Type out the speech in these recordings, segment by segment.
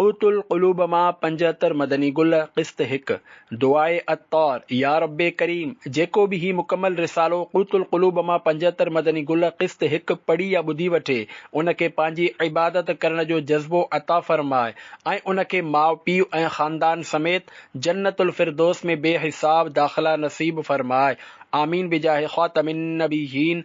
قوت القلوب مان پنجهتر مدني گل قسط هڪ، دعائي عطار، يا رب ڪريم، جيڪو به هي مڪمل رسالو قوت القلوب مان پنجهتر مدني گل قسط هڪ پڙهي يا ٻڌي وٺي ان کي پنهنجي عبادت ڪرڻ جو جذبو عطا فرماء ۽ ان کي ماء پيء ۽ خاندان سميت جنت الفردوس ۾ بي حساب داخلا نصيب فرماء آمين بجاه خاتم النبيين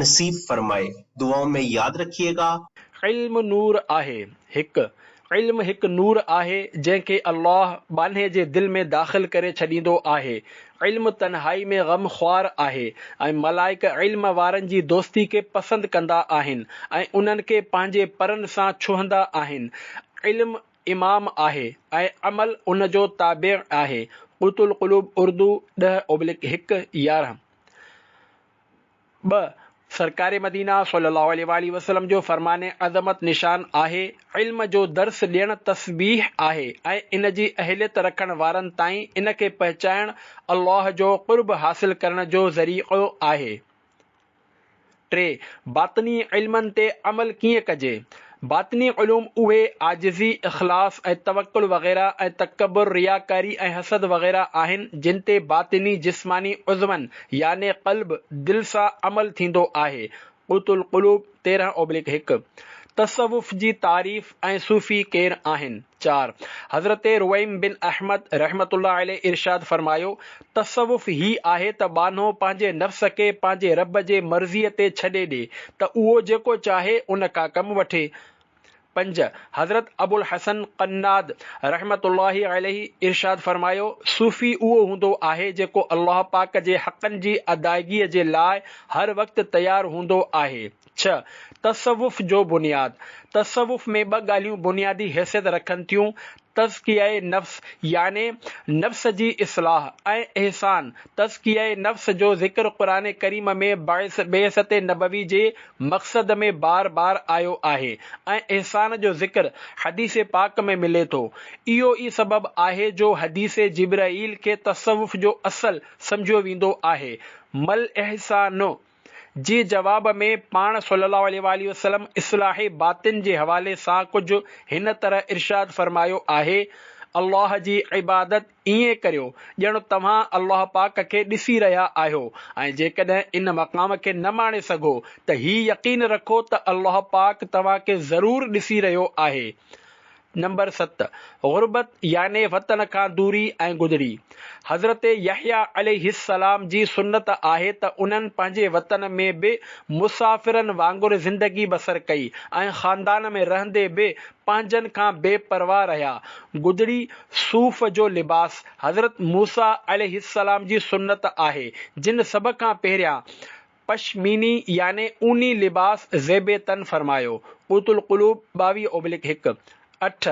نصيب فرمائي دعائن ۾ ياد رکيي گا. علم نور آهي هڪ، علم هڪ نور آهي جنهن کي الله ٻانهي جي دل ۾ داخل ڪري ڇڏيندو آهي، علم تنهائي ۾ غم خوار آهي ۽ ملائڪ علم وارن جي دوستي کي پسند ڪندا آهن ۽ انهن کي پنهنجي پرن سان ڇهندا آهن، علم امام آهي ۽ عمل ان جو تابع آهي قوت القلوب اردو ڏهه اوبلڪ هڪ، يارهن، ٻه، سرڪار مدينه صلّي اللّٰه عليه واٰله وسلّم جو فرمان عظمت نشان آهي، علم جو درس ڏيڻ تسبيح آهي ۽ ان جي اهليت رکڻ وارن تائين ان کي پهچائڻ الله جو قرب حاصل ڪرڻ جو ذريعو آهي. ٽي، باطني علمن تي عمل ڪيئن ڪجي؟ باطني علوم اهي عاجزي، اخلاص ۽ توڪل وغيره ۽ تڪبر، رياڪاري ۽ حسد وغيره آهن جن تي باطني جسماني عضون يعني قلب، دل سان عمل ٿيندو آهي، قوت القلوب تيرهن اوبليڪ هڪ. تصوف جي تعريف ۽ صوفي ڪير آهن؟ چار، حضرت رويم بن احمد رحمة الله عليه ارشاد فرمايو، تصوف هي آهي ته ٻانهو پنهنجي نفس کي پنهنجي رب جي مرضيء تي ڇڏي ڏي ته اهو جيڪو چاهي ان کان ڪم وٺي. پنج، حضرت ابوالحسن قناد رحمة الله عليه ارشاد فرمايو، صوفي اهو هوندو آهي جيڪو الله پاڪ جي حقن جي ادائگيء جي لاء هر وقت تيار هوندو آهي. ڇهه، تصوف جو بنياد، تصوف ۾ ٻه ڳالهيون بنيادي حيثيت رکن ٿيون، تزڪيه نفس يعني نفس جي اصلاح ۽ احسان، تزڪيه نفس جو ذڪر قرآن ڪريم ۾ بعثت نبوي جي مقصد ۾ بار بار آيو آهي ۽ احسان جو ذڪر حديث پاڪ ۾ ملي ٿو، اهو ئي سبب آهي جو حديث جبرئيل کي تصوف جو اصل سمجهيو ويندو آهي، مالاحسان. جي جواب ۾ پاڻ صلّي اللّٰه عليه واٰله وسلّم اصلاح باطن جي حوالي سان ڪجھ هن طرح ارشاد فرمايو آهي، الله جي عبادت ائين ڪريو ڄڻ توهان الله پاڪ کي ڏسي رهيا آهيو ۽ جيڪڏهن ان مقام کي نه ماڻي سگھو ته هي يقين رکو ته الله پاڪ توهان کي ضرور ڏسي رهيو آهي نمبر ست، غربت يعني وطن کان دوري ۽ گدڙي. حضرت يحيٰ عليه السلام جي سنت آهي ته انهن پنهنجي وطن ۾ به مسافرن وانگر زندگي بسر ڪئي ۽ خاندان ۾ رهندي به پنهنجن کان بي پرواهه رهيا. گدڙي، صوف جو لباس، حضرت موسيٰ عليه السلام جي سنت آهي، جن سڀ کان پهريان، پشميني يعني اوني لباس زيب تن فرمايو، قوت القلوب ٻاويهه اوبلڪ هڪ، اٺ،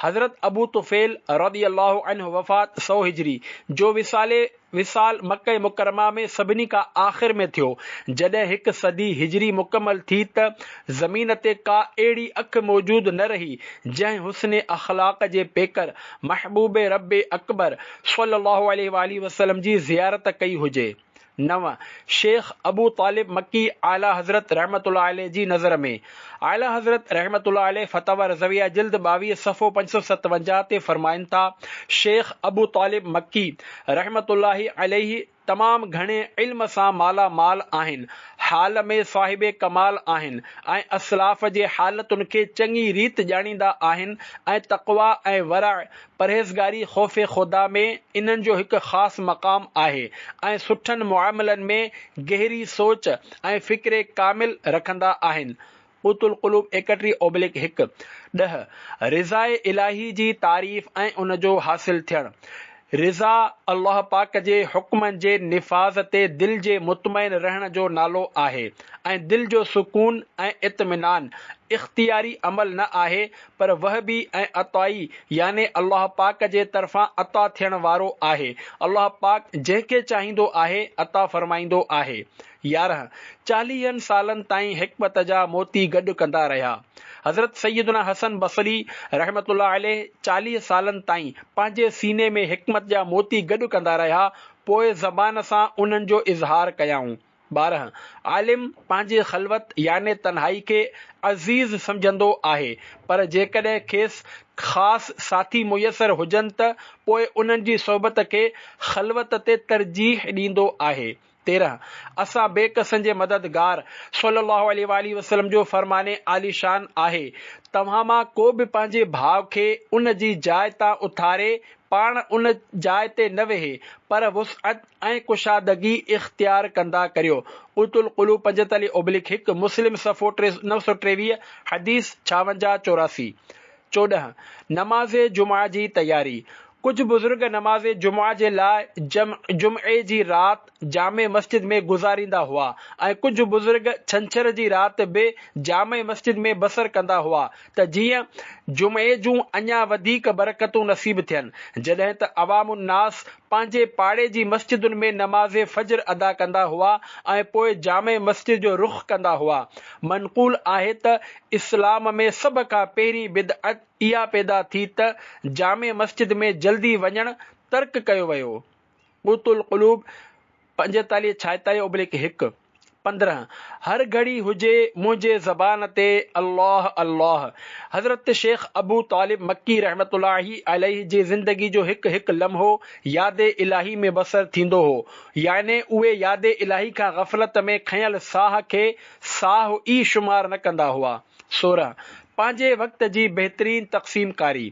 حضرت ابو طفيل رضي الله عنه وفات سؤ هجري جو وصالي وصال مڪه مڪرمه ۾ سڀني کان آخر ۾ ٿيو جڏهن هڪ صدي هجري مڪمل ٿي ته زمين تي ڪا اهڙي اک موجود نه رهي جنهن حسن اخلاق جي پيڪر محبوب رب اڪبر صلي الله عليه واٰله وسلم جي زيارت ڪئي هجي. نو، شيخ ابو طالب مڪي اعليٰ حضرت رحمة الله عليه جي نظر ۾، اعليٰ حضرت رحمة الله عليه فتاويٰ رضويه جلد ٻاويهه صفحو پنج سؤ ستاونجاهه تي فرمائن ٿا، شيخ ابو طالب مڪي رحمة الله عليه تمام گهڻي علم سان مالا مال آهن، حال ۾ صاحب ڪمال آهن ۽ اسلاف جي حالتن کي چڱي ريت ڄاڻيندا آهن ۽ تقويٰ ۽ ورع پرهيزگاري خوف خدا ۾ انهن جو هڪ خاص مقام آهي ۽ سٺن معاملن ۾ گهري سوچ ۽ فڪر ڪامل رکندا آهن قوت القلوب ايڪٽري اوبليڪ هڪ، ڏهه، رضاء الاهي جي تعريف ۽ ان جو حاصل ٿيڻ، رضا الله پاڪ جي حڪمن جي نفاذ تي دل جي مطمئن رهڻ جو نالو آهي ۽ دل جو سڪون ۽ اطمينان اختياري عمل نه آهي پر وهبي ۽ عطائي يعني الله پاڪ جي طرفان عطا ٿيڻ وارو آهي. الله پاڪ جنهن کي چاهيندو آهي عطا فرمائيندو آهي. يارهن، چاليهن سالن تائين حڪمت جا موتي گڏ ڪندا رهيا. حضرت سيدنا حسن بصري رحمة الله عليه چاليهه سالن تائين پنهنجي سيني ۾ حڪمت جا موتي گڏ ڪندا رهيا، پوء زبان سان انهن جو اظهار ڪيائون. ٻارهن، عالم پنهنجي خلوت يعني تنهائي کي عزيز سمجهندو آهي، پر جيڪڏهن کيس خاص ساٿي ميسر هجن ته پوء انهن جي صحبت کي خلوت تي ترجيح ڏيندو آهي. تيرهن، اسان بي ڪسن جي مددگار صلّي اللّٰه عليه واٰله وسلّم جو فرمان عالي شان آهي، توهان مان ڪو به پنهنجي ڀاء کي ان جي جاء تان اٿاري پاڻ ان جاء تي نه ويهي، پر وسعت، ۽ ڪشادگي اختيار ڪندا ڪريو. قوت القلوب پنجيتاليهه اوبليڪ هڪ، مسلم صفحو ٽي سؤ ٽيويهه، حديث ڇاونجاهه چوراسي. چوڏهن، نماز جمعه جي تياري، ڪجهه بزرگ نماز جمعه جي لاء جمع، جمعي جي رات، جامع مسجد ۾ گذاريندا هئا ۽ ڪجهه بزرگ ڇنڇر جي رات به جامع مسجد ۾ بسر ڪندا هئا ته جيئن جمعي جون اڃا وڌيڪ برڪتون نصيب ٿين جڏهن ته عوام الناس پنهنجي پاڙي جي مسجدن ۾ نماز فجر ادا ڪندا هئا ۽ پوء جامع مسجد جو رخ ڪندا هئا. منقول آهي ته اسلام ۾ سڀ کان پهرين بدعت اها پيدا ٿي ته جامع مسجد ۾ جلدي وڃڻ ترڪ ڪيو ويو. قوت القلوب، پنجيتاليهه ڇائيتاليهه اوبليڪ هڪ، پندرهن، هر گهڙي هجي منهنجي زبان تي الله الله، حضرت شيخ ابو طالب مڪي رحمة الله عليه جي زندگي جو هڪ هڪ لمحو ياد الاهي ۾ بسر ٿيندو هو يعني اهي ياد الاهي کان غفلت ۾ کنيل ساهه کي ساهه ئي شمار نه ڪندا هئا سورهن، پنهنجي وقت جي بهترين تقسيم ڪاري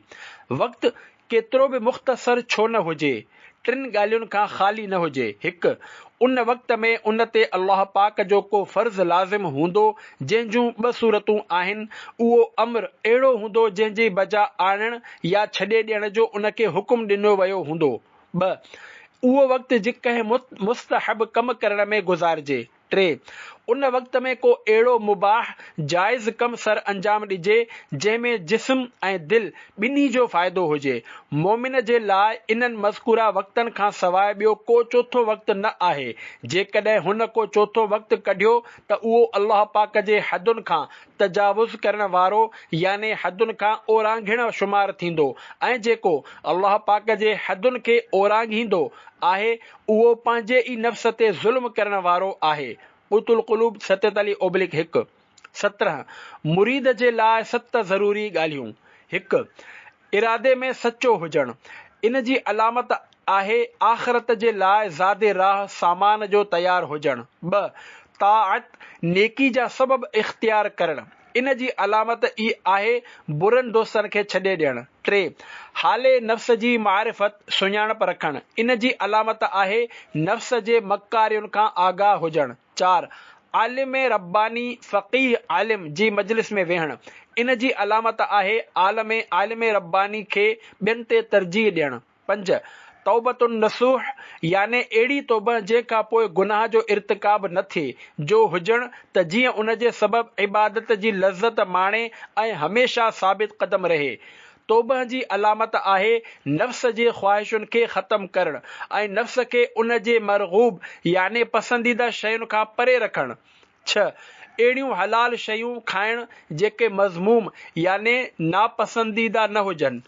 وقت ڪيترو به مختصر ڇو نه هجي، ٽن ڳالهين کان خالي نه هجي، هڪ، ان وقت ۾ ان تي الله پاڪ جو ڪو فرض لازم هوندو، جنهن جون ٻه صورتون آهن، اهو امر اهڙو هوندو جنهن جي بجا آڻڻ يا ڇڏي ڏيڻ جو ان کي حڪم ڏنو ويو هوندو، ٻه، اهو وقت جي ڪنهن مستحب ڪم ڪرڻ ۾ گذارجي، ٽي، ان وقت ۾ ڪو اهڙو مباح، جائز، ڪم سر انجام ڏجي، جنهن ۾ جسم ۽ دل ٻنهي جو فائدو هجي. مؤمن جي لاء انهن مذڪوره وقتن کان سواء ٻيو ڪو چوٿون وقت نه آهي، جيڪڏهن هن ڪو چوٿون وقت ڪڍيو ته اهو الله پاڪ جي حدن کان تجاوز ڪرڻ وارو يعني حدن کان اورانگهڻ شمار ٿيندو ۽ جيڪو الله پاڪ جي حدن کي اورانگهيندو آهي اهو پنهنجي ئي نفس تي ظلم ڪرڻ وارو آهي قوت القلوب ستت علي اوبلڪ هڪ، سترهن، مريد جي لاء ست ضروري ڳالهيون، هڪ، ارادي ۾ سچو هجڻ، ان جي علامت آهي آخرت جي لاء زاد راهه سامان جو تيار هجڻ، ٻه، طاعت، نيڪي جا سبب اختيار ڪرڻ، ان جي علامت ئي آهي برن دوستن کي ڇڏي ڏيڻ. ٽي، حالي نفس جي معرفت، سڃاڻپ، رکڻ. ان جي علامت آهي نفس جي مڪارين کان آگاهه هجڻ. چار، عالم رباني، فقيه، عالم جي مجلس ۾ ويهڻ. ان جي علامت آهي عالم، عالم رباني، کي ٻين تي ترجيح ڏيڻ. پنج، توبة النصوح، يعني اهڙي توبه جنهن کان پوء گناهه جو ارتڪاب نه ٿئي، جو هجڻ ته جيئن ان جي سبب عبادت جي لذت ماڻي ۽ هميشه ثابت قدم رهي. توبه جي علامت آهي نفس جي خواهشن کي ختم ڪرڻ ۽ نفس کي ان جي مرغوب يعني پسنديده شين کان پري رکڻ. ڇهه، اهڙيون حلال شيون کائڻ جيڪي مذموم يعني ناپسنديده نه هجن.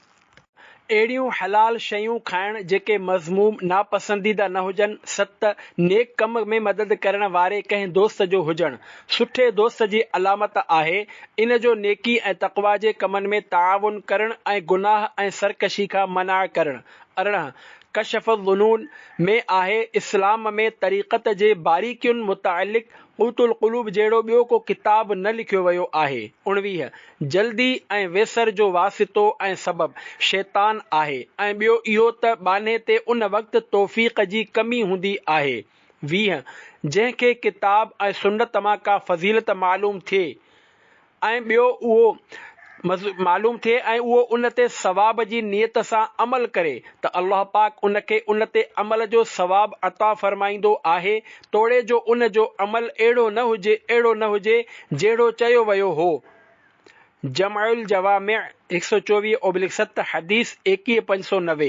اهڙيون حلال شيون کائڻ جيڪي مذموم، ناپسنديده، نه هجن، ست، نيڪ ڪم ۾ مدد ڪرڻ واري ڪنهن دوست جو هجڻ، سٺي دوست جي علامت آهي، ان جو نيڪي ۽ تقويٰ جي ڪمن ۾ تعاون ڪرڻ ۽ گناهه ۽ سرڪشي کان منع ڪرڻ. ارڙهن، ڪشف الظنون، ۾ آهي، اسلام ۾ طريقت جي باريڪين متعلق قوت القلوب جهڙو ٻيو ڪو ڪتاب نه لکيو ويو آهي. اڻويهه، جلدي ۽ ويسر جو واسطو ۽ سبب شيطان آهي ۽ ٻيو اهو ته ٻانهي تي ان وقت توفيق جي ڪمي هوندي آهي. ويهه، جنهن کي ڪتاب ۽ سنت مان ڪا فضيلت معلوم ٿئي ۽ ٻيو اهو معلوم ٿئي ۽ اهو ان تي ثواب جي نيت سان عمل ڪري ته الله پاڪ ان کي ان تي عمل جو ثواب عطا فرمائيندو آهي توڙي جو ان جو عمل اهڙو نه هجي اهڙو نه هجي جهڙو چيو ويو هو. جمع الجوامع هڪ سؤ چوويهه اوبلڪ ست، حديث ايڪيهه پنج سؤ نوي،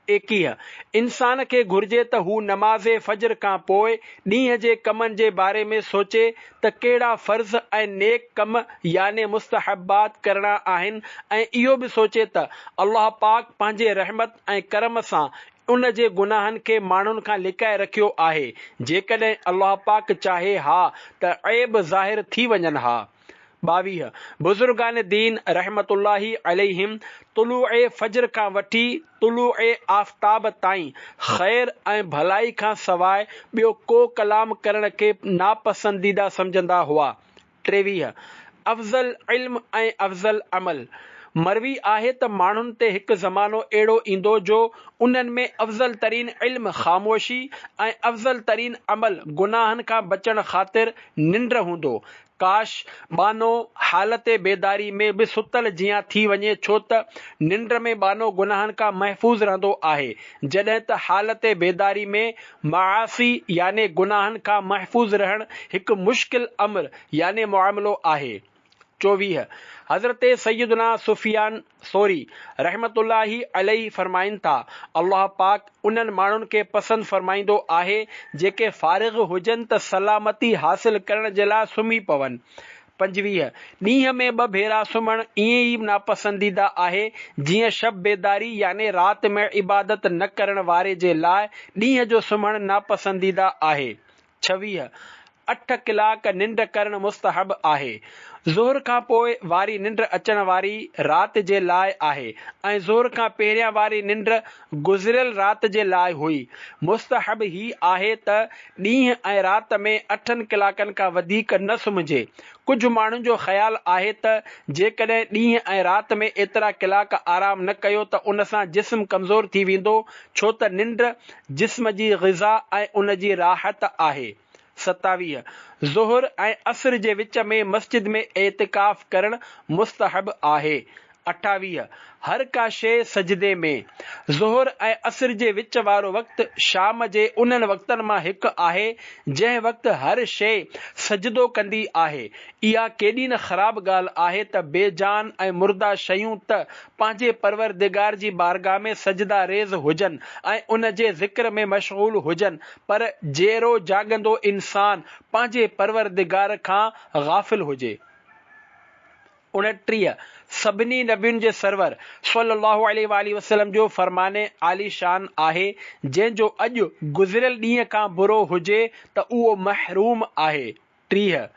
ايڪيهه، انسان کي گهرجي ته هو نماز فجر کان پوء ڏينهن جي ڪمن جي باري ۾ سوچي ته ڪهڙا فرض ۽ نيڪ ڪم يعني مستحبات ڪرڻا آهن ۽ اهو به سوچي ته الله پاڪ پنهنجي رحمت ۽ ڪرم سان ان جي گناهن کي ماڻهن کان لڪائي رکيو آهي، جيڪڏهن الله پاڪ چاهي ها ته عيب ظاهر ٿي وڃن ها. ٻاويهه، بزرگان دين رحمة الله عليهم طلوع فجر کان وٺي طلوع آفتاب تائين خير ۽ ڀلائي کان سواء ٻيو ڪو ڪلام ڪرڻ کي ناپسنديده سمجهندا هئا ٽيويهه، افضل علم ۽ افضل عمل، مروي آهي ته ماڻهن تي هڪ زمانو اهڙو ايندو جو انهن ۾ افضل ترين علم خاموشي ۽ افضل ترين عمل گناهن کان بچڻ خاطر ننڊ هوندو. ڪاش! ٻانهو حالت بيداري ۾ به ستل جيان ٿي وڃي ڇو ته ننڊ ۾ ٻانهو گناهن کان محفوظ رهندو آهي جڏهن ته حالت بيداري ۾ معاصي يعني گناهن کان محفوظ رهڻ هڪ مشڪل امر يعني معاملو آهي. چوويهه، حضرت سيدنا سفيان ثوري رحمة الله عليه فرمائن ٿا، الله پاڪ انهن ماڻهن کي پسند فرمائيندو آهي جيڪي فارغ هجن ته سلامتي حاصل ڪرڻ جي لاء سمهي پون، پنجويهه، ڏينهن ۾ ٻه ڀيرا سمهڻ ائين ئي ناپسنديده آهي، جيئن شب بيداري يعني رات ۾ عبادت نه ڪرڻ واري جي لاء ڏينهن جو سمهڻ ناپسنديده آهي. ڇويهه، اٺ ڪلاڪ ننڊ ڪرڻ مستحب آهي. ظهر کان پوء واري ننڊ اچڻ واري رات جي لاء آهي ۽ ظهر کان پهريان واري ننڊ گذريل رات جي لاء هئي. مستحب هي آهي ته ڏينهن ۽ رات ۾ اٺن ڪلاڪن کان وڌيڪ نه سمهجي. ڪجهه ماڻهن جو خيال آهي ته جيڪڏهن ڏينهن ۽ رات ۾ ايترا ڪلاڪ آرام نه ڪيو ته ان سان جسم ڪمزور ٿي ويندو ڇو ته ننڊ جسم جي غذا ۽ ان جي راحت آهي. ستاويهه، ظهر ۽ عصر جي وچ ۾ مسجد ۾ اعتڪاف ڪرڻ مستحب آهي. اٺاويهه، هر ڪا شيء سجدي ۾. ظهر ۽ عصر جي وچ وارو وقت شام جي انهن وقتن مان هڪ آهي، جنهن وقت هر شيء سجدو ڪندي آهي. اها ڪيڏي نه خراب ڳالهه آهي ته بي جان ۽ مرده شيون ته پنهنجي پروردگار جي بارگاهه ۾ سجده ريز هجن ۽ ان جي ذڪر ۾ مشغول هجن پر جيئرو جاڳندو انسان پنهنجي پروردگار کان غافل هجي. اڻٽيهه، سڀني نبين جي سرور صلّي اللّٰه عليه واٰله وسلّم جو فرمان عالي شان آهي، جنهن جو اڄ گذريل ڏينهن کان برو هجي ته اهو محروم آهي. ٽيهه،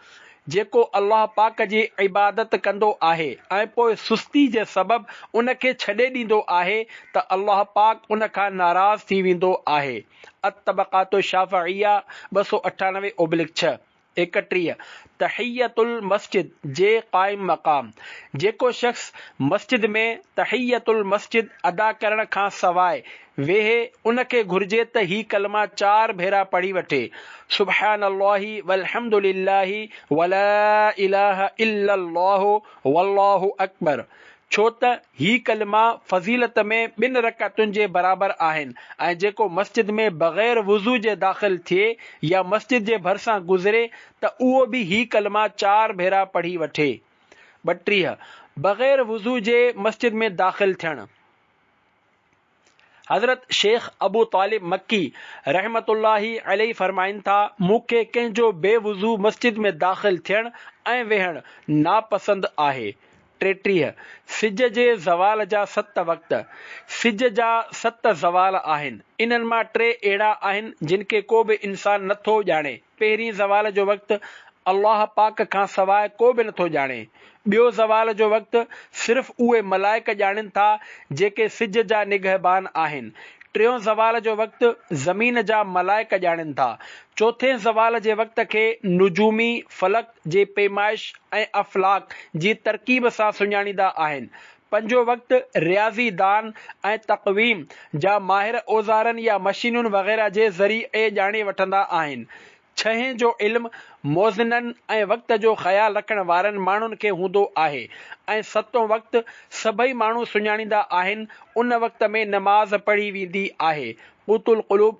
جيڪو الله پاڪ جي عبادت ڪندو آهي ۽ پوء سستي جي سبب ان کي ڇڏي ڏيندو آهي ته الله پاڪ ان کان ناراض ٿي ويندو آهي، الطبقات الشافعيه، ٻه سؤ اٺانوي اوبلڪ ڇهه، ايڪٽيهه، تحية المسجد جي قائم مقام، جيڪو شخص مسجد ۾ تحية المسجد ادا ڪرڻ کان سواء ويهي ان کي گهرجي ته هي ڪلما چار ڀيرا پڙهي وٺي، سبحان الله والحمد لله ولا اله الا الله والله اڪبر، ڇو ته هي ڪلما فضيلت ۾ ٻن رڪعتن جي برابر آهن ۽ جيڪو مسجد ۾ بغير وضو جي داخل ٿئي يا مسجد جي ڀرسان گذري ته اهو به هي ڪلما چار ڀيرا پڙهي وٺي. ٻٽيهه، بغير وضو جي مسجد ۾ داخل ٿيڻ. حضرت شيخ ابو طالب مڪي رحمة الله عليه فرمائن ٿا، مون کي ڪنهن جو بي وضو مسجد ۾ داخل ٿيڻ ۽ ويهڻ ناپسند آهي. ٽيٽيهه، سج جي زوال جا ست وقت، سج جا ست زوال آهن، انهن مان ٽي اهڙا آهن جن کي ڪو به انسان نه ٿو ڄاڻي. پهرين زوال جو وقت الله پاڪ کان سواء ڪو به نٿو ڄاڻي. ٻيو زوال جو وقت صرف اهي ملائڪ ڄاڻين ٿا جيڪي سج جا نگهبان آهن. ٽيون زوال جو وقت زمين جا ملائڪ ڄاڻين ٿا. چوٿين زوال جي وقت کي نجومي، فلڪ، جي پيمائش ۽ افلاڪ جي ترڪيب سان سڃاڻيندا آهن. پنهنجو وقت رياضي دان ۽ تقويم جا ماهر اوزارن يا مشينن وغيره جي ذريعي ڄاڻي وٺندا آهن. ڇهين جو علم موزنن ۽ وقت جو خيال رکڻ وارن ماڻهن کي هوندو آهي ۽ ستون وقت سڀئي ماڻهو سڃاڻيندا آهن ان وقت ۾ نماز پڙهي ويندي آهي قوت القلوب،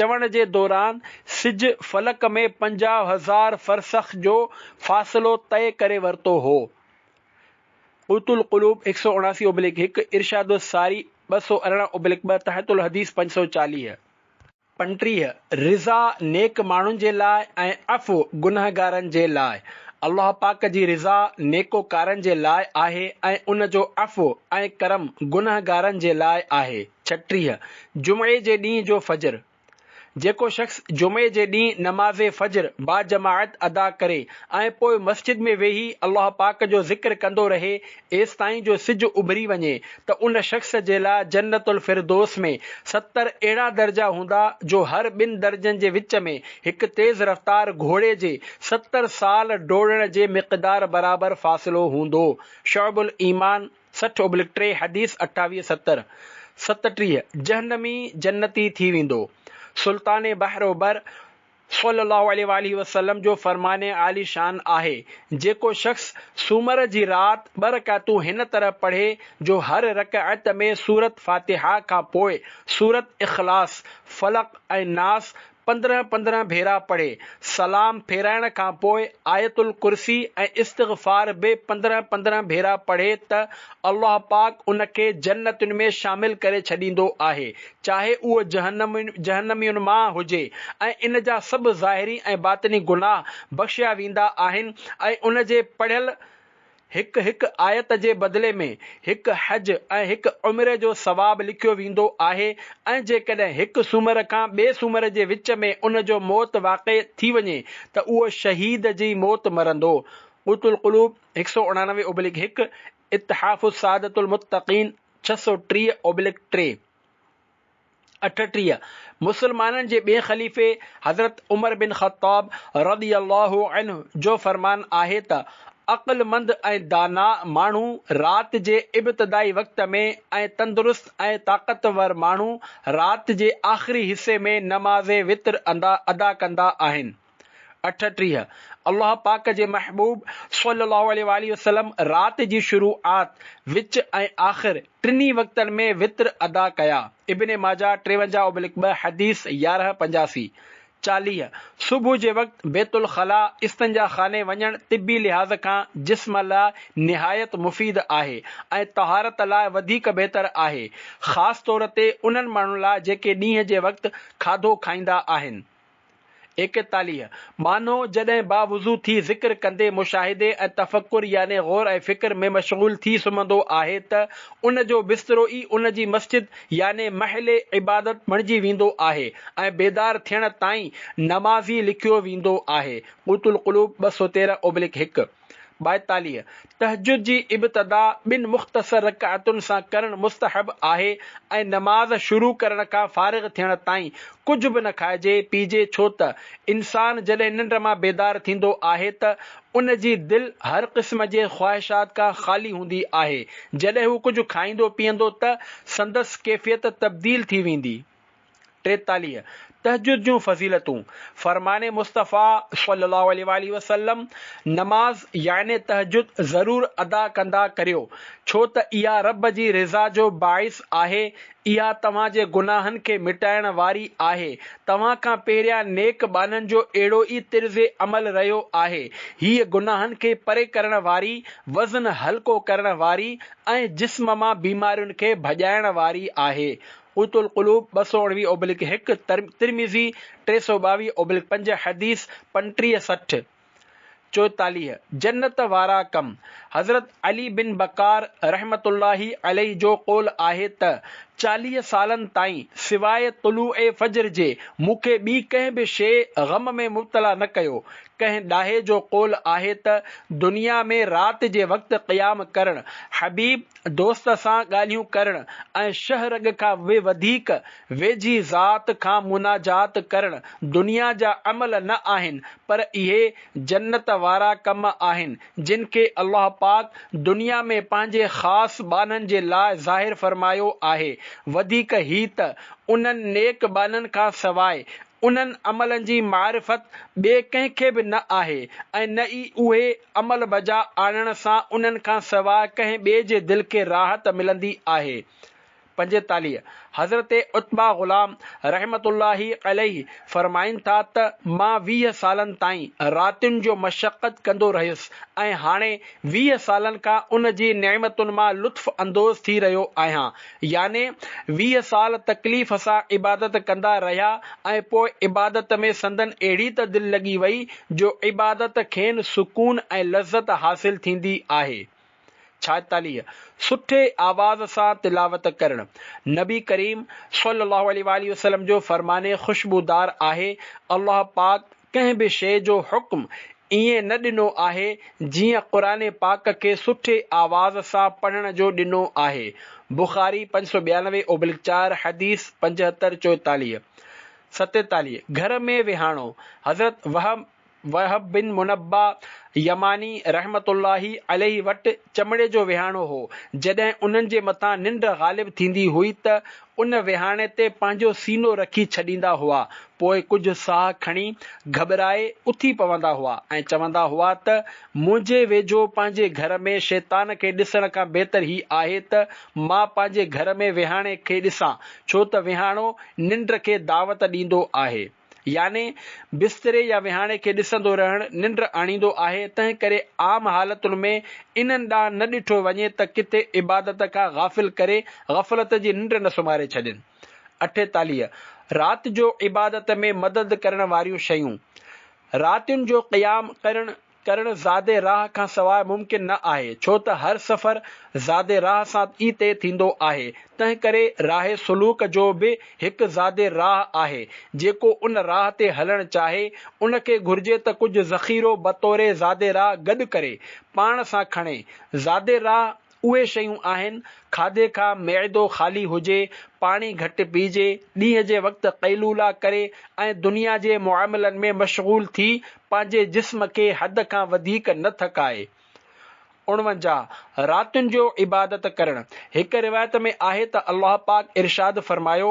چوڻ جي دوران سج فلڪ ۾ پنجاهه هزار فرسخ جو فاصلو طئي ڪري ورتو هو، قوت القلوب هڪ سؤ اڻاسي اوبليڪ هڪ، ارشاد الساري ٻه سؤ ارڙهن اوبليڪ ٻه، تحت الحديث پنج سؤ چاليهه. پنجٽيهه، رضا نيڪ ماڻهن جي لاء ۽ عفو گنهگارن جي لاء، الله پاڪ جي رضا نيڪوڪارن جي لاء آهي ۽ ان جو عفو ۽ ڪرم گنهگارن جي لاء آهي. ڇٽيهه، جمعي جي ڏينهن جو فجر، جيڪو شخص جمعي جي ڏينهن نماز فجر باجماعت ادا ڪري ۽ پوء مسجد ۾ ويهي الله پاڪ جو ذڪر ڪندو رهي ايستائين جو سج اڀري وڃي ته ان شخص جي لاء جنت الفردوس ۾ ستر اهڙا درجا هوندا جو هر ٻن درجن جي وچ ۾ هڪ تيز رفتار گهوڙي جي ستر سال ڊوڙڻ جي مقدار برابر فاصلو هوندو شعب الايمان سٺ ابلڪ ٽي حديث اٺاويهه ستر ست ٽيهه جهنمي جنتي ٿي ويندو سلطان بحر و بر صلي الله عليه واٰله وسلم جو فرمان عالي شان آهي جيڪو شخص سومر جي رات ٻه رڪعتون هن طرح پڙهي جو هر رڪعت ۾ سورت فاتحه کان پوء سورت اخلاص فلق ۽ ناس پندرهن پندرهن ڀيرا پڙهي، سلام ڦيرائڻ کان پوء آيت الڪرسي ۽ استغفار به پندرهن پندرهن ڀيرا پڙهي ته الله پاڪ ان کي جنتين ۾ شامل ڪري ڇڏيندو آهي، چاهي اهو جهنمين مان هجي ۽ ان جا سڀ ظاهري ۽ باطني گناهه بخشيا ويندا آهن ۽ ان جي پڙهيل هڪ هڪ آيت جي بدلي ۾ هڪ حج ۽ هڪ عمري جو ثواب لکيو ويندو آهي ۽ جيڪڏهن هڪ سومر کان ٻئي سومر جي وچ ۾ ان جو موت واقع ٿي وڃي ته اهو شهيد جي موت مرندو. قوت القلوب، هڪ سؤ اڻانوي اوبليڪ هڪ، اتحاف سعادت المتقين، ڇهه سؤ ٽيهه اوبليڪ ٽي. اٺٽيهه، مسلمانن جي ٻئين خليفي حضرت عمر بن خطاب رضي الله عنه جو فرمان آهي ته، عقلمند ۽ داناء ماڻهو رات جي ابتدائي وقت ۾ ۽ تندرست ۽ طاقتور ماڻهو رات جي آخري حصي ۾ نماز وتر ادا ڪندا آهن. اٺٽيهه، الله پاڪ جي محبوب صلّي اللّٰه عليه واٰله وسلّم رات جي شروعات، وچ ۽ آخر ٽنهي وقتن ۾ وتر ادا ڪيا، ابن ماجه ٽيونجاهه اوبلڪ ٻه حديث يارهن پنجاسي، چاليهه، صبح جي وقت بيت الخلاء، استنجا خاني، وڃڻ طبّي لحاظ کان جسم لاء نهايت مفيد آهي ۽ طهارت لاء وڌيڪ بهتر آهي، خاص طور تي انهن ماڻهن لاء جيڪي ڏينهن جي وقت کاڌو کائيندا آهن. ايڪيتاليهه، ٻانهو، جڏهن باوضو ٿي ذڪر ڪندي مشاهدي ۽ تفڪر يعني غور ۽ فڪر ۾ مشغول ٿي سمهندو آهي ته ان جو بسترو ئي ان جي مسجد يعني محل عبادت بڻجي ويندو آهي ۽ بيدار ٿيڻ تائين نمازي لکيو ويندو آهي، قوت القلوب ٻه سؤ تيرهن اوبلڪ هڪ. ٻائيتاليهه، تهجد جي ابتدا ٻن مختصر رڪعتن سان ڪرڻ مستحب آهي ۽ نماز شروع ڪرڻ کان فارغ ٿيڻ تائين ڪجهه به نه کائجي پيئجي ڇو ته انسان جڏهن ننڊ مان بيدار ٿيندو آهي ته ان جي دل هر قسم جي خواهشات کان خالي هوندي آهي جڏهن هو ڪجهه کائيندو پيئندو ته سندس ڪيفيت تبديل ٿي ويندي ٽيتاليهه، تهجد جون فضيلتون، فرمان مصطفيٰ صلّي اللّٰه عليه واٰله وسلّم، نماز يعني تهجد ضرور ادا ڪندا ڪريو، ڇو ته اها ربّ جي رضا جو باعث آهي، اها توهان جي گناهن کي مٽائڻ واري آهي، توهان کان پهريان نيڪ ٻانهن جو اهڙو ئي طرز عمل رهيو آهي، هيء گناهن کي پري ڪرڻ واري، وزن هلڪو ڪرڻ واري ۽ جسم مان بيمارين کي ڀڄائڻ واري آهي. قوت القلوب، ٻه سؤ اڻويهه اوبلڪ هڪ، ترمذي، ٽي سؤ ٻاويهه اوبلڪ پنج، حديث، پنٽيهه سٺ، چوئيتاليهه، جنت وارا ڪم، حضرت علي بن بڪار رحمة الله عليه جو قول آهي ته چاليهه سالن تائين سواء طلوع فجر جي مون کي ٻي ڪنهن به شيء غم ۾ مبتلا نه ڪيو، ڪنهن ڏاهي جو قول آهي ته دنيا ۾ رات جي وقت قيام ڪرڻ حبيب، دوست سان ڳالهيون ڪرڻ ۽ شهه رڳ کان به وڌيڪ ويجهي ذات کان مناجات ڪرڻ دنيا جا عمل نه آهن پر اهي جنت وارا ڪم آهن جن کي الله پاڪ دنيا ۾ پنهنجي خاص ٻانهن جي لاء ظاهر فرمايو آهي وڌيڪ هي ته انهن نيڪ ٻانهن کان سواء انهن عملن جي معرفت ٻئي ڪنهن کي به نه آهي ۽ نه ئي اهي عمل بجا آڻڻ سان انهن کان سواء ڪنهن ٻئي جي دل کي راحت ملندي آهي. پنجيتاليهه، حضرت عتبه غلام رحمة الله عليه فرمائن ٿا ته مان ويهه سالن تائين راتين جو مشقت ڪندو رهيس ۽ هاڻي ويهه سالن کان ان جي نعمتن مان لطف اندوز ٿي رهيو آهيان، يعني ويهه سال تڪليف سان عبادت ڪندا رهيا ۽ پوء عبادت ۾ سندن اهڙي ته دل لڳي وئي جو عبادت کين سڪون ۽ لذت حاصل ٿيندي آهي. ڇائيتاليهه، سٺي آواز سان تلاوت ڪرڻ نبي ڪريم صلي الله عليه واٰله وسلم جو فرمان خوشبودار آهي، الله پاڪ، ڪنهن به شيء جو حڪم ائين نه ڏنو آهي جيئن قرآن پاڪ کي سٺي آواز سان پڙهڻ جو ڏنو آهي، بخاري پنج سؤ ٻيانوي اوبلڪ چار، حديث پنجهتر چوئيتاليهه، ستيتاليهه، گهر ۾ ويهاڻو، حضرت وهب وهب بن منبه يماني رحمة الله عليه وٽ چمڙي جو ويهاڻو هو، جڏهن انهن جي مٿان ننڊ غالب ٿيندي هئي ته ان ويهاڻي تي پنهنجو سينو رکي ڇڏيندا هئا، پوء ڪجهه ساهه کڻي گهٻرائي اٿي پوندا هئا ۽ چوندا هئا ته منهنجي ويجهو پنهنجي گهر ۾ شيطان کي ڏسڻ کان بهتر هي آهي ته مان پنهنجي گهر ۾ ويهاڻي کي ڏسان، ڇو ته ويهاڻو ننڊ کي دعوت ڏيندو آهي. يعني بستري يا وهاڻي کي ڏسندو رهڻ ننڊ آڻيندو آهي، تنهنڪري عام حالتن ۾ انهن ڏانهن نه ڏٺو وڃي ته ڪٿي عبادت کان غافل ڪري غفلت جي ننڊ نه سمهاري ڇڏين. اٺيتاليهه، رات جو عبادت ۾ مدد ڪرڻ واريون شيون، راتين جو قيام ڪرڻ، ڪرڻ زيادي راهه کان سواء ممڪن نه آهي، ڇو ته هر سفر زيادي راهه سان ئي طئي ٿيندو آهي، تنهنڪري راهه سلوڪ جو به هڪ زيادي راهه آهي، جيڪو ان راهه تي هلڻ چاهي، ان کي گهرجي ته ڪجهه ذخيرو بطور زيادي راهه گڏ ڪري، پاڻ سان کڻي، زيادي راهه اهي شيون آهن، کاڌي کان معدو خالي هجي، پاڻي گهٽ پيئجي، ڏينهن جي وقت قيلولا ڪري ۽ دنيا جي معاملن ۾ مشغول ٿي پنهنجي جسم کي حد کان وڌيڪ نه ٿڪائي. اڻونجاهه، راتين جو عبادت ڪرڻ، هڪ روايت ۾ آهي ته الله پاڪ ارشاد فرمايو،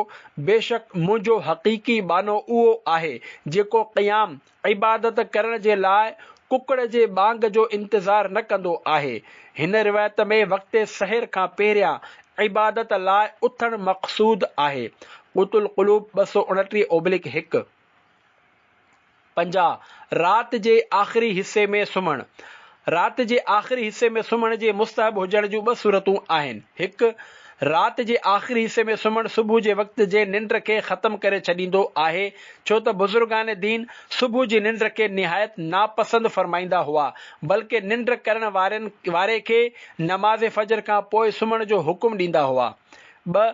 بيشڪ منهنجو حقيقي ٻانهو اهو آهي جيڪو قيام، عبادت ڪرڻ جي لاء ڪڪڙ جي ٻانگ جو انتظار نه ڪندو آهي. هن روايت ۾ وقت سحر کان پهريان عبادت لاء اٿڻ مقصود آهي، قوت القلوب ٻه سؤ اڻٽيهه اوبلڪ هڪ. پنجاهه، رات جي آخري حصي ۾ سمهڻ، رات جي آخري حصي ۾ سمهڻ جي مستحب هجڻ جون ٻه صورتون آهن، هڪ، رات جي آخري حصي ۾ سمهڻ صبح جي وقت جي ننڊ کي ختم ڪري ڇڏيندو آهي، ڇو ته بزرگان دين صبح جي ننڊ کي نهايت ناپسند فرمائيندا هئا، بلڪه ننڊ ڪرڻ وارن واري کي نماز فجر کان پوء سمهڻ جو حڪم ڏيندا هئا. ٻه،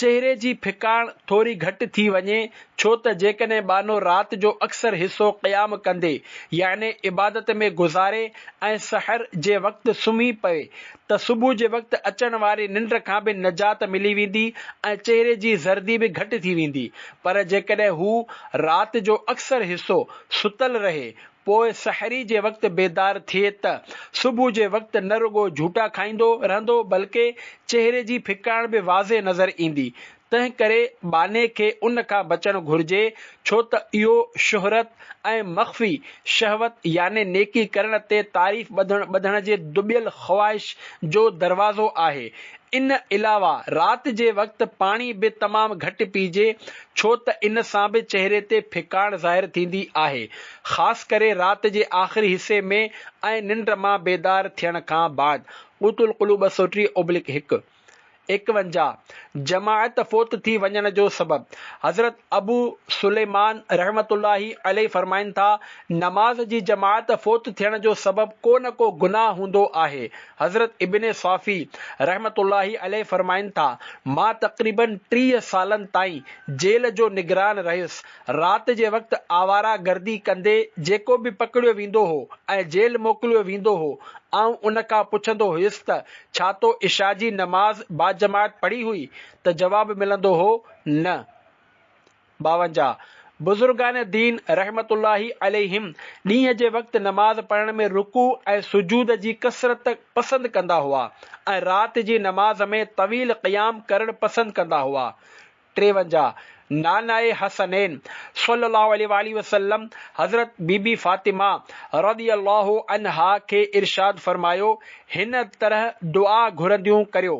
چهري جي ڦڪاڻ ٿوري گهٽ ٿي وڃي، ڇو ته جيڪڏهن ٻانهو رات جو اڪثر حصو قيام ڪندي يعني عبادت ۾ گذاري ۽ سحر جي وقت سمهي پوي ته صبح جي وقت اچڻ واري ننڊ کان به نجات ملي ويندي ۽ چهري جي زردي به گهٽ ٿي ويندي پر جيڪڏهن هو رات جو اڪثر حصو ستل رهي پوء سحري جي وقت بيدار ٿئي ته صبح جي وقت نه رڳو جهوٽا کائيندو رهندو بلڪه چهري جي ڦڪاڻ به واضح نظر ايندي. تنهن ڪري ٻانهي کي ان کان بچڻ گهرجي ڇو ته اهو شهرت ۽ مخفي شهوت يعني نيڪي ڪرڻ تي تعريف ٻڌڻ ٻڌڻ جي دٻيل خواهش جو دروازو آهي. ان علاوه رات جي وقت پاڻي به تمام گهٽ پيئجي ڇو ته ان سان به چهري تي ڦڪاڻ ظاهر ٿيندي آهي، خاص ڪري رات جي آخري حصي ۾ ۽ ننڊ مان بيدار ٿيڻ کان بعد، قوت القلوب ٻه سؤ ٽيهه اوبلڪ هڪ. ايڪونجاهه، جماعت فوت ٿي وڃڻ جو سبب، حضرت ابو سليمان رحمة الله عليه فرمائن ٿا، نماز جي جماعت فوت ٿيڻ جو سبب ڪو نه ڪو گناهه هوندو آهي، حضرت ابن صافي رحمة الله عليه فرمائن ٿا، مان تقريباً ٽيهه سالن تائين جيل جو نگران رهيس. رات جي وقت آواره گردي ڪندي جيڪو به پڪڙيو ويندو هو ۽ جيل موڪليو ويندو هو، آئون ان کان پڇندو هيس ته ڇا تو عشاء جي نماز باجماعت پڙهي هئي؟ ته جواب ملندو هو، نه. ٻاونجاهه، بزرگان دين رحمة الله عليهم ڏينهن جي وقت نماز پڙهڻ ۾ رڪوع ۽ سجود جي ڪثرت پسند ڪندا هئا ۽ رات جي نماز ۾ طويل قيام ڪرڻ پسند ڪندا هئا. ٽيونجاهه، نانائي حسنين صلّي الله عليه واٰله وسلّم حضرت بي بي فاطمه رضي الله عنها کي ارشاد فرمايو، هن طرح دعا گهرنديون ڪريو.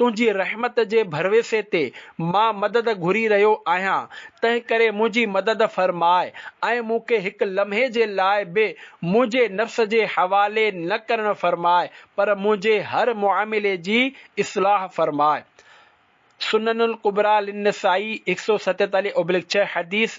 تنهنجي رحمت جي ڀروسي تي مان مدد گهري رهيو آهيان، تنهنڪري منهنجي مدد فرماء ۽ مون کي هڪ لمحي جي لاء به منهنجي نفس جي حوالي نه ڪرڻ فرماء پر منهنجي هر معاملي جي اصلاح فرماء سنن الڪبريٰ للنسائي هڪ سؤ ستيتاليهه اوبليڪ ڇهه، حديث،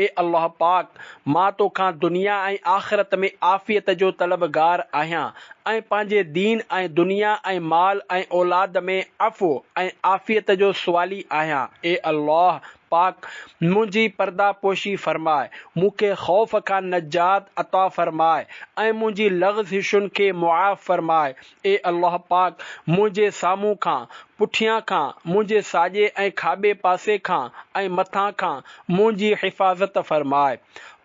اي الله پاڪ! مان توکان دنيا ۽ آخرت ۾ عافيت جو طلبگار آهيان ۽ پنهنجي دين ۽ دنيا ۽ مال ۽ اولاد ۾ عفو ۽ عافيت جو سوالي آهيان اي الله پاڪ! منهنجي پرده پوشي فرماء، مون کي خوف کان نجات عطا فرماء ۽ منهنجي لغزشن کي معاف فرماء اي الله پاڪ! منهنجي سامهون کان، پٺيان کان، منهنجي ساڄي ۽ کاٻي پاسي کان ۽ مٿان کان منهنجي حفاظت فرماء.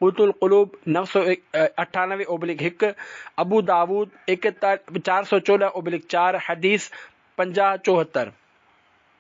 قوت القلوب نو سؤ اٺانوي اوبليڪ هڪ، ابو داؤد ايڪ چار سؤ چوڏهن اوبليڪ چار، حديث پنجاهه چوهتر.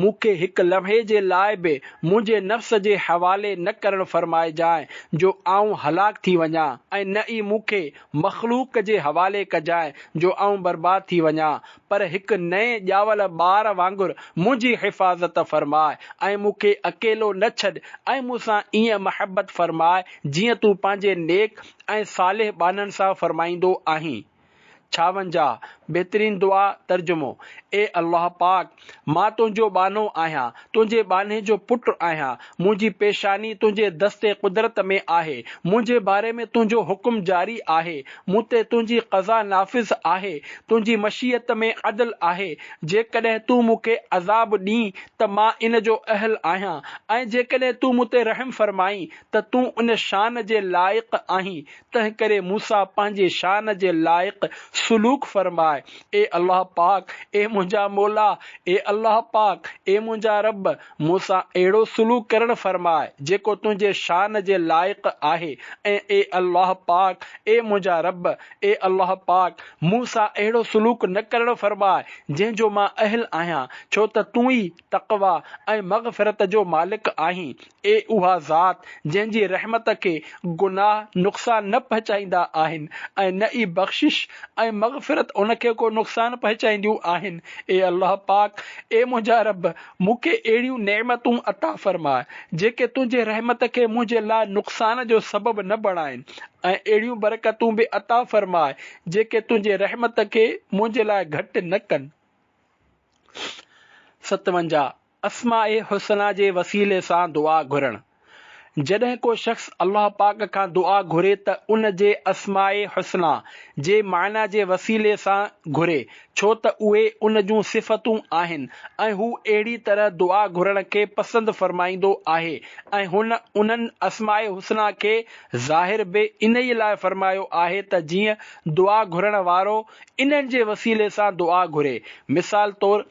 مون کي هڪ لمحي جي لاء به منهنجي نفس جي حوالي نه ڪرڻ فرمائجانء جو آئون هلاڪ ٿي وڃان ۽ نه ئي مون کي مخلوق جي حوالي ڪجانء جو آئون برباد ٿي وڃان پر هڪ نئين ڄاول ٻار وانگر منهنجي حفاظت فرماء ۽ مون کي اڪيلو نه ڇڏ ۽ مون سان ائين محبت فرماء جيئن تون پنهنجي نيڪ ۽ صالح ٻانهن سان فرمائيندو آهين. ڇاونجاهه، بهترين دعا، ترجمو، اي الله پاڪ! مان تنهنجو ٻانهو آهيان، تنهنجي ٻانهي جو پٽ آهيان، منهنجي پيشاني تنهنجي دست قدرت ۾ آهي، منهنجي باري ۾ تنهنجو حڪم جاري آهي، مون تي تنهنجي قضا نافذ آهي، تنهنجي مشيئت ۾ عدل آهي، جيڪڏهن تون مون کي عذاب ڏين ته مان ان جو اهل آهيان ۽ جيڪڏهن تون مون تي رحم فرمائين ته تون ان شان جي لائق آهين تنهنڪري مون سان پنهنجي شان جي لائق سلوڪ فرماء، اي الله پاڪ، اي منهنجا مولا، اي الله پاڪ، اي منهنجا رب، مون سان اهڙو سلوڪ ڪرڻ فرماء، جيڪو تنهنجي شان جي لائق آهي ۽ اي الله پاڪ، اي منهنجا رب، اي الله پاڪ، مون سان اهڙو سلوڪ نه ڪرڻ فرماء، جنهن جو مان اهل آهيان، ڇو ته تون ئي تقويٰ ۽ مغفرت جو مالڪ آهين، اي اها ذات جنهن جي رحمت کي گناهه نقصان نه پهچائيندا آهن ۽ نه ئي بخشش ۽ مغفرت ان کي ڪو نقصان پهچائينديون آهن، اي الله پاڪ، اي منهنجا رب، مون کي اهڙيون نعمتون عطا فرماء، جيڪي تنهنجي رحمت کي منهنجي لاء نقصان جو سبب نه بڻائن ۽ اهڙيون برڪتون به عطا فرماء، جيڪي تنهنجي رحمت کي منهنجي لاء گهٽ نه ڪن. ستونجاهه، اسماء حسنيٰ جي وسيلي سان دعا گهرڻ، جڏهن ڪو شخص الله پاڪ کان دعا گهري ته ان جي اسماء حسنيٰ جي معنيٰ جي وسيلي سان گهري، ڇو ته اهي ان جون صفتون آهن ۽ هو اهڙي طرح دعا گهرڻ کي پسند فرمائيندو آهي ۽ هن انهن اسماء حسنيٰ کي ظاهر به انهيء لاء فرمايو آهي ته جيئن دعا گهرڻ وارو انهن جي وسيلي سان دعا گهري، مثال طور،